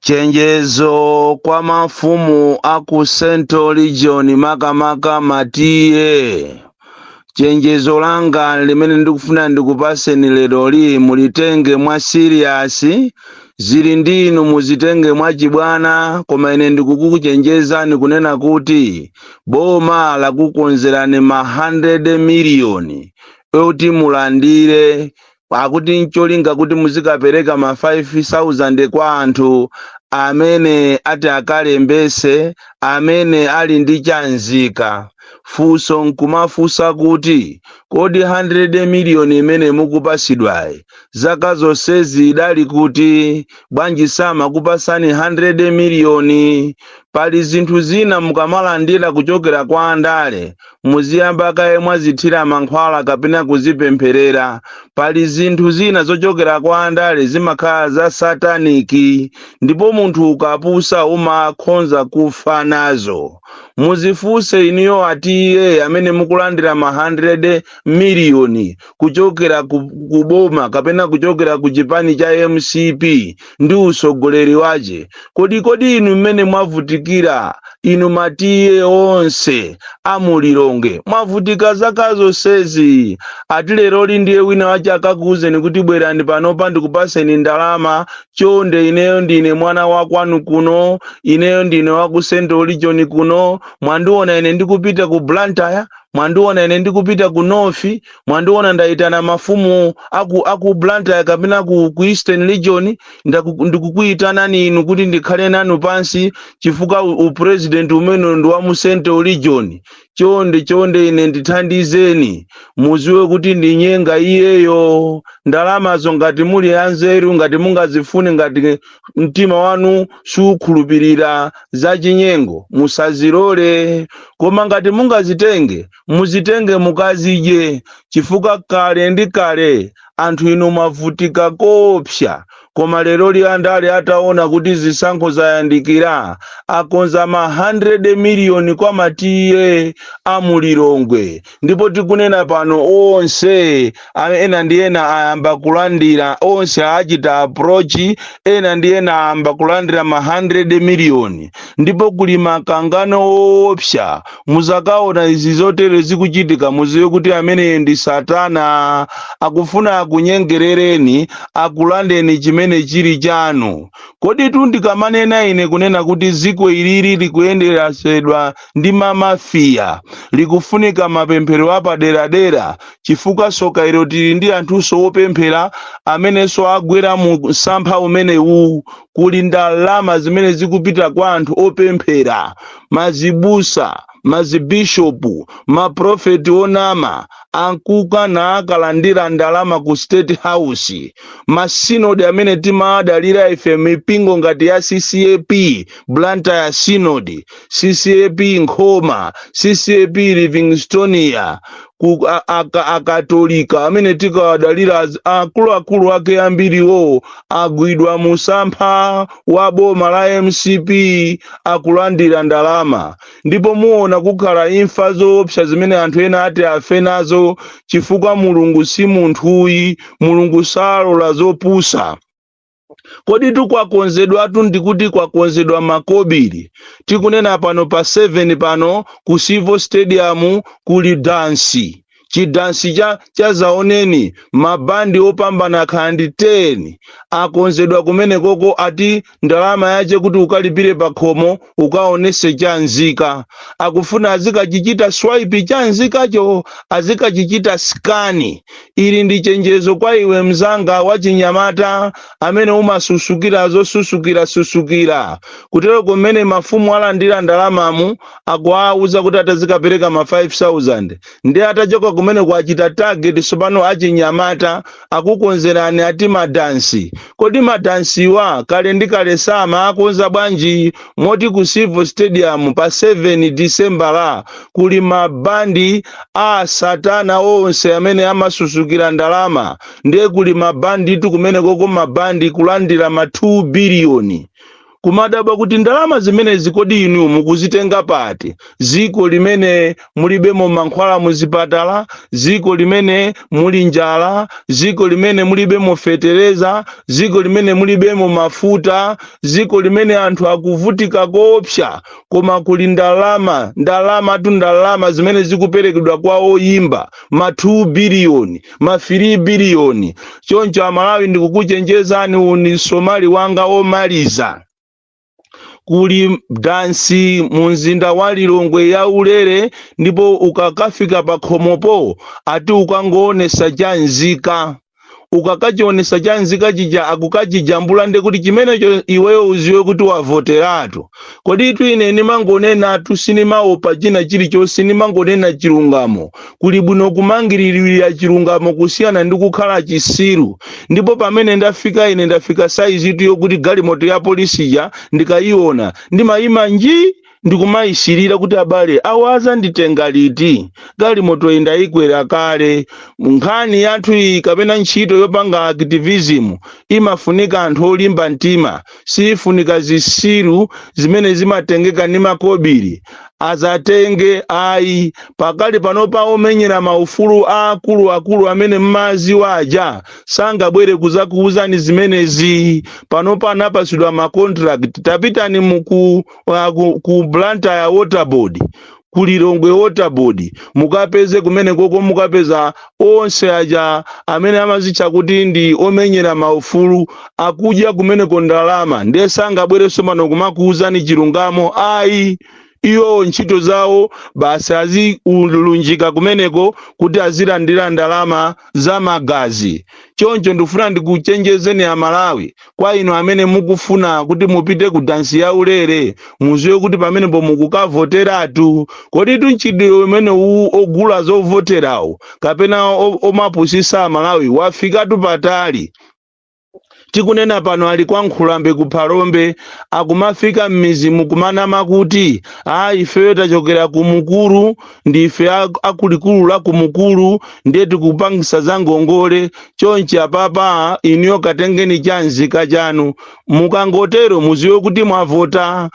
chenjezo kwa mafumu a ku central region makamaka ma T/A chenjezo langa limene ndikufuna ndikupaseni lero li mulitenge mwa siriyasi zili ndi inu muzitenge mwa chibwana koma ine ndikukuchenjezani kunena kuti boma lakukonzerani ma 100 miliyoni oti mulandire akuti ncholinga kuti muzikapereka ma 5000 kwa anthu amene ati akalembese amene ali ndi chanzika funso nkumafunsa kuti kodi 100 miliyoni imene mukupasidwayi zaka zonsezi idali kuti bwanji samakupasani 100 miliyoni pali zinthu zina mukamalandira kuchokera kwa andale muziyamba kaye mwazithira mankhwala kapena kuzipempherera pali zinthu zina zochokera kwa andale zimakhala za sataniki ndipo munthu ukapusa umakhonza kufa nazo muzifunse inuyo a T/A amene mukulandira ma 100 miliyoni kuchokera ku, ku boma kapena kuchokera ku chipani cha mcp ndi usogoleri wache kodi kodi inu mmene mwavutikira inu ma T/A onse a mu lilongwe mwavutika zaka zonsezi ati leroli ndiye wina wache akakuuzeni kuti bwerani panopa ndikupaseni ndalama chonde ineyo ndine mwana wakwanu kuno ineyo ndine waku central region kuno mwandiona ine ndikupita ku blantyre mwandiona ine ndikupita ku north mwandiona ndaitana mafumu aku, aku blantyre kapena ku, ku eastern region ndaku- ndikukuitanani inu kuti ndikhale nanu pansi chifukwa u- upresident umene ndi wa mu central region chonde chonde ine ndithandizeni muziwe kuti ndi nyenga iyeyo ndalamazo ngati muli anzeru ngati mungazifune ngati mtima wanu sukhulupirira zachinyengo musazilole koma ngati mungazitenge muzitenge mukazidye chifukwa kale ndi kale anthu inu mwavutika koopsa koma leroli andale ataona kuti zisankho zayandikira akonza ma 100 miliyoni kwa ma T/A a mu lilongwe ndipo tikunena pano onse a- ena ndi ena ayamba kulandira onse achita approach ena ndi ena ayamba kulandira ma 100 miliyoni ndipo kuli makangano oopsa muzakaona zizotere zikuchitika muziwe kuti amene ndi satana akufuna akunyengerereni akulandeni chimene chili chanu kodi tu ndikamanena ine kunena kuti ziko ilili likuyendesedwa ndi mamafiya likufunika mapemphero apaderadera chifukwa soka ilo tili ndi anthunso wopemphera amenenso agwera mu msampha umenewu kuli ndalama zimene zikupita kwa anthu opemphera mazibusa mazibishopu maprofeti onama ankuka na akalandira ndalama ku state house masinodi amene timadalira ife mipingo ngati ya ccap blantyre synod ccap nkhoma ccap livingstonia ku a- aka- akatolika amene tikawadalira az- akuluakulu ake ambiriwo agwidwa musampha wa boma la mcp akulandira ndalama ndipo muona kukhala imfa zoopsa zimene anthu ena ati afe nazo chifukwa mulungu si munthuyi mulungu salola zopusa kodi tukwakonzedwatu ndikuti kwakonzedwa makobiri tikunena pano pa 7 pano ku civo stadium kuli dansi chidansi cha zaoneni mabandi opambana akhala ndi 10 akonzedwa kumenekoko ati ndalama yache kuti ukalipire pakhomo ukaonese cha nzika akufuna azikachichita swipe cha nzikacho azikachichita skani ili ndi chenjezo kwa iwe mzanga wachinyamata amene umasusukira zosusukira susukira kutero kumene mafumu alandira ndalamamu akuwauza kuti atazikapereka ma 5000 ndi atachoka kumene kwachita target sopano achinyamata akukonzerani ati madansi kodi madansiwa kale ndi kale samaakonza bwanji moti ku civo stadium pa 7 disembala kuli mabandi a satana onse amene amasusukira ndalama ndiye kuli mabanditu kumenekoko mabandi kulandira ma 2 biliyoni kumadabwa kuti ndalama zimenezi kodi inu mukuzitenga pati ziko limene mulibemo mankhwala muzipatala ziko limene muli njala ziko limene mulibemo fetereza ziko limene mulibemo mafuta ziko limene anthu akuvutika koopsa koma kuli ndalama ndalamatu ndalama zimene zikuperekedwa kwa oyimba ma 2 biliyoni ma 3 biliyoni choncho amalawi ndikukuchenjezani uwu ndi msomali wanga omaliza kuli dansi mu mzinda wa lilongwe ya ulere ndipo ukakafika pa khomopo ati ukangoonesa cha nzika ukakachionesa cha nzika chija akukachijambula nde kuti chimenecho iweyo uziwe kuti wavoteratu kodi itu ine ndimangonenatu sindimaopa china chilichonse ndimangonena chilungamo kuli bwino kumangiririra chilungamo kusiyana ndi kukhala chisiru ndipo pamene ndafika ine ndafika saizitu yokuti galimoto ya polisi ija ndikayiona ndimayima nji ndikumayisirira kuti abale awa azanditenga liti galimoto indayikwera kale nkhani yathu iyi kapena ntchito yopanga activism imafunika anthu olimba mtima siifunika zisiru zimene zimatengeka ndi makobiri azatenge ayi pakali panopa omenyera maufulu aakuluakulu amene mmawaziwa aja sangabwere kuzakuwuzani zimenezi panopa anapatsidwa macontract tapitani uku uh, ku, ku blantyre waterboard ku lilongwe waterboard mukapeze kumenekoko mukapeza onse aja amene amazitcha kuti ndi omenyera maufulu akudya kumeneko ndalama ndiye sangabwerenso pano kumakuwuzani chilungamo ayi iwowo ntchito zawo basi aziulunjika kumeneko kuti azilandira ndalama za magazi. Choncho ndifuna ndikuchenjezeni a Malawi kwa inu amene mukufuna kuti mupite ku dansi ya ulere muziwe kuti pamenepo mukukavoteratu. Koditu mchitidwe umenewu ogula zovoterawo kapena o- omapusisa a Malawi wafikatu patali. tikunena pano ali kwa nkhulambe ku phalombe akumafika m'mizimu kumanama kuti a ifeyo tachokera ku mukuru ndife a- akulikulu la ku mukuru ndiye tikupangisa za ngongole chonchi apapa inuyo katengeni cha nzika chanu mukangotero muziwe kuti mwavota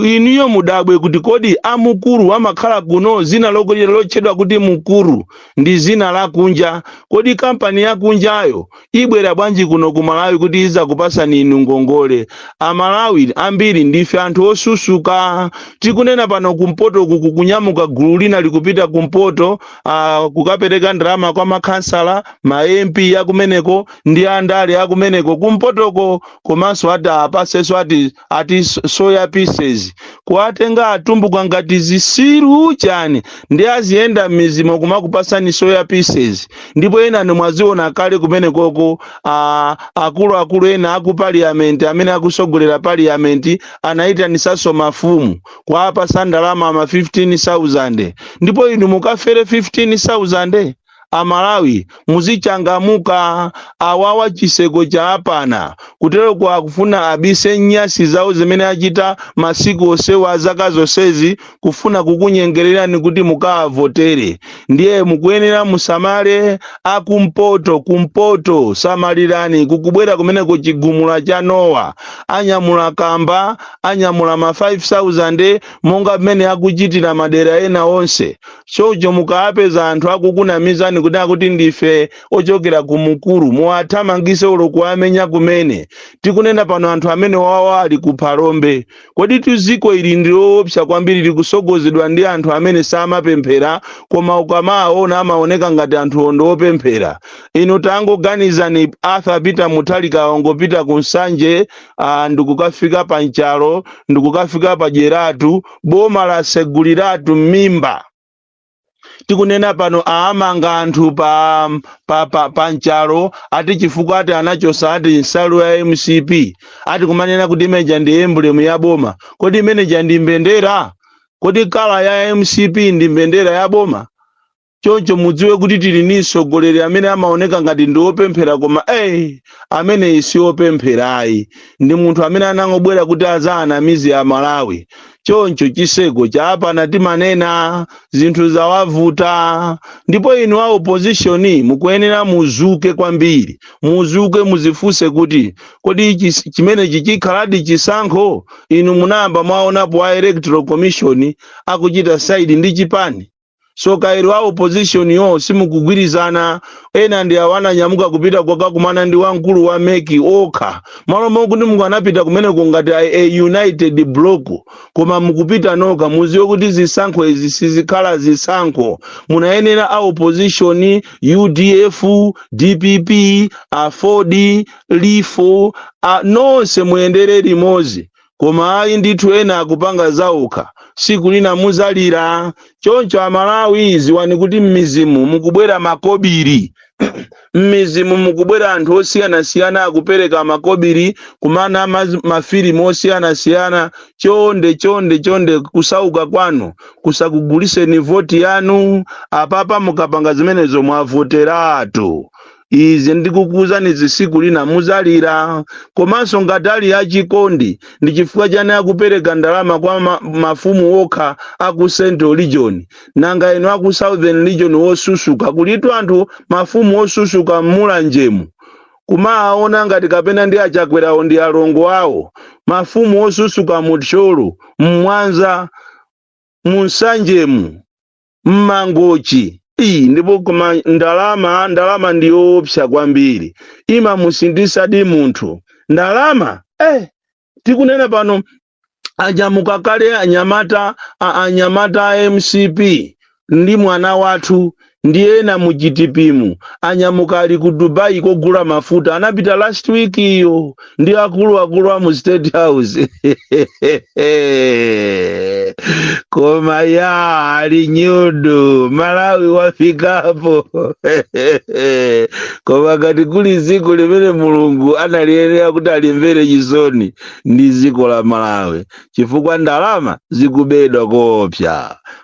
inuyo mudabwe kuti kodi amukuru amakhala kuno zina loko- lotchedwa kuti mukuru ndi zina lakunja kodi kampani yakunjayo ibwera bwanji kuno ku malawi kuti izakupasani inu ngongole amalawi ambiri ndife anthu osusuka tikunena pano kumpoto kukunyamuka gulu lina likupita kumpoto uh, kukapereka ndalama kwa makhansala ma mp akumeneko ndi andale akumeneko kumpotoko komanso ati apasenso ati ati s- soya pieces kuwatenga atumbuka ngati zisiru chani ndi aziyenda m'mizimo kumakupasani soya pieces ndipo enanu mwaziona kale kumenekoko a- akuluakulu ena aku parliament amene akusogolera parliament anayitanisanso mafumu kuwapasa ndalama ma 15000 ndipo inu mukafere 15000 Amalawi muzichangamuka awawa chiseko chaapana kuteroko akufuna abise nyasi zawo zimene achita masiku onsewa zaka zonsezi kufuna kukunyengelerani kuti mukaavotere ndiye mukuyenera musamale akumpoto kumpoto samalirani kukubwera kumeneko chigumula cha nowa anyamula kamba anyamula ma 5000 monga mmene akuchitira madera ena onse Choncho mukawapeza anthu akukunamizani kuti akuti ndife ochokera ku Mukuru, muwathamangise olo kuwamenya kumene. Tikunena pano anthu amenewawa ali ku Phalombe. Koditu ziko ili ndi loopsa kwambiri likusogozedwa ndi anthu amene samapemphera koma ukamawaona amaoneka ngati anthuwo ndi opemphera. Inu tangoganizani Arthur Peter Mutharika wangopita ku Nsanje ah, ndikukafika pa Nchalo, ndikukafika pa Dyeratu, boma laseguliratu m'mimba tikunena pano aamanga anthu pa, pa, pa, pa nchalo ati chifukwa ati anachosa ati nsalu ya mcp ati kumanena kuti imeneja ndi emblem ya boma kodi imeneja ndi mbendera kodi kala ya mcp ndi mbendera ya boma choncho mudziwe kuti tili ndi mtsogoleri amene amaoneka ngati ndi wopemphera koma eh ameneyi si wopempherayi ndi munthu amene anangobwera kuti azaanamize amalawi choncho chiseko chapana timanena zinthu zawavuta ndipo inu a opposition mukuyenera muzuke kwambiri muzuke muzifunse kuti kodi chis- chimenechi chikhaladi chisankho inu munayamba mwaonapo a electoral commission akuchita saidi ndi chipani soka ilo a opposition yo simukugwirizana ena ndi awo ananyamuka kupita kokakumana ndi wamkulu wa meki okha mmalo mokuti mukanapita kumeneko ngati a, a united block koma mukupita nokha muziwe kuti zisankho izi sizikhala zisankho munayenera a opposition udf dpp aford lifo a, nonse muyendere limodzi koma ayi ndithu ena akupanga zaokha siku lina muzalira choncho amalawi ziwani kuti mmizimu mukubwera makobiri mmizimu mukubwera anthu osiyanasiyana akupereka makobiri kumana maz- mafilimu osiyanasiyana chonde chonde chonde kusauka kwanu kusakuguliseni voti yanu apapa mukapanga zimenezo mwavoteratu izi ndikukuuzanizi siku lina muzalira komanso ngati ali achikondi ndi chifukwa chani akupereka ndalama kwa ma, mafumu okha aku central region nanga inu aku southern region wosusuka kulitu anthu mafumu osusuka mmulanjemu kumawaona ngati kapena ndi achakwerawo ndi alongo awo mafumu osusuka muthyolo mmwanza munsanjemu mmangochi iyi ndipo koma ndalama ndalama ndi yoopsa kwambiri imamusinthisadi munthu ndalama eh tikunena pano anyamuka kale anyamata a- anyamata a mcp ndi mwana wathu ndi ena mu gtp mu anyamuka ali ku dubai kogula mafuta anapita last week iyo ndi akuluakulu a mu state house koma iya ali nyudu malawi wafikapo koma ngati kuli dziko limene mulungu analiyenera kuti alimvere chisoni ndi dziko la malawi chifukwa ndalama zikubedwa koopsa